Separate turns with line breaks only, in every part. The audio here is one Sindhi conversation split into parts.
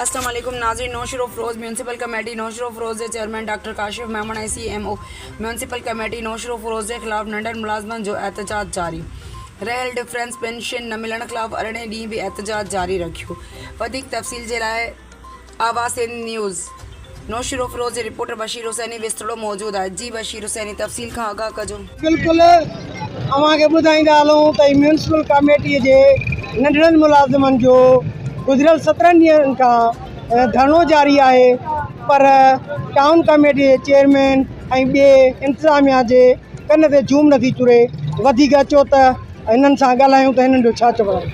السلام عليڪم ناظرين نوشھروفروز ميونسپل ڪميٽي نوشھروفروز جي chairman doctor Kashif Memon ۽ C M O municipal committee Naushahro Feroze جي خلاف ننڍن ملازمن جو احتجاج جاري رھيل ڊفرينس پينشن نه ملڻ خلاف ارڙهين ڏينهن به احتجاج جاري رکيو وڌيڪ تفصيل جي لاء آواسين نيوز نوشهروفيروز جي رپورٽر بشير حسيني وستڙو موجود آهي جي بشير حسيني تفصيل کان آگاهه ڪجو. بلڪل
اوهان کي ٻڌائيندا هلون ته ميونسپل ڪاميٽي جي ننڍڙن ملازمن جو گذريل سترهن ڏينهن کان ڌرڻو جاري آهي پر ٽائون ڪاميٽي جي چيئرمين ۽ ٻي انتظاميا جي ڪن تي جوم نٿي چري وڌيڪ اچو ته هنن سان ڳالهايون ته هنن جو ڇا چوڻ آهي.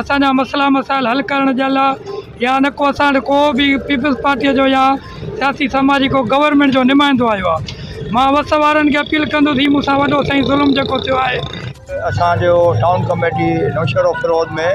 اسان جا مسئلا مسائل حل ڪرڻ جي لا يا نه ڪو اسان وٽ ڪو بي پيپلز پارٽيء جو يا سياسي سماجي ڪو گورنمينٽ جو نمائندو آيو آهي مان وس وارن کي اپيل ڪندس هي مون سان وڏو سائين ظلم جيڪو ٿيو آهي اسان جو
ٽائون ڪميٽي نوشهرو فروز ۾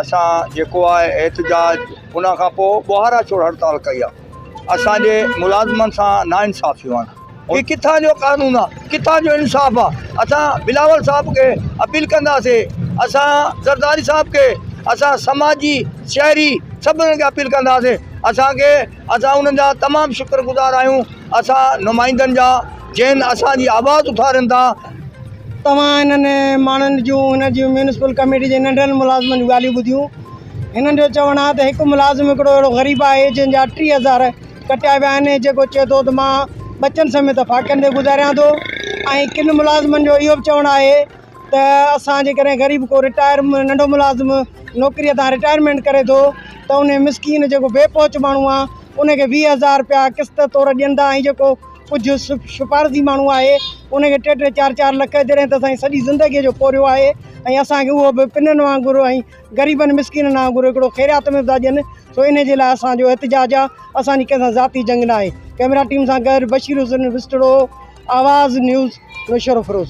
اسان جيڪو آهي احتجاج ان کان پوء ٻوهارا ڇوڙ هڙتال ڪئي آهي اسان جي ملازمن سان نا انصافيون آهن هي ڪٿان جو قانون آ ڪٿان جو انصاف آ اسان بلاول صاحب کي اپيل ڪنداسي اسان زرداري صاحب کي اسان سماجي شهري سڀ کي اپيل ڪنداسي اسان کي اسان انهن جا تمام شڪر گذار آهيون اسان نمائندن جا جن اسان جي آواز اٿارين ٿا توهان
هنن ماڻهن جون هن جي ميونسپل ڪميٽي جي ننڍن ملازمن جون ڳالهيون ٻڌيون هنن جو چوڻ آ ته هڪ ملازم هڪڙو اهڙو غريب آهي جنهن جا ٽي هزار ڪٽيا ويا آهن جيڪو چئي ٿو ته مان ٻچن سميت ڦاڪن تي گذاريان ٿو ۽ ڪن ملازمن جو اهو به چوڻ آهي ته اسان جيڪڏهن غريب ڪو رٽائر ننڍو ملازم نوڪريء تان رٽائرمينٽ ڪري ٿو ته ان مسڪين جيڪو بي پهچ ماڻهو آهي ان کي ويهه هزار رپيا قسط طور ڏين ٿا ۽ جيڪو ڪجهه سفارتي ماڻهو آهي ان کي ٽي ٽي چار چار لک جڏهن ته سائين سڄي زندگيء جو پورهيو آهي ۽ اسان کي اهو به پنن وانگر ۽ غريبن مسڪينن آنگر هڪڙو خيريات ۾ به ٿا ڏين سو انهي جي لاء اسان جو احتجاج آ اسان جي ڪنهن سان ذاتي جنگ ناهي ڪئميرا ٽيم سان گڏ بشير حسين وسٽڙو آواز نيوز نوشهروفيروز.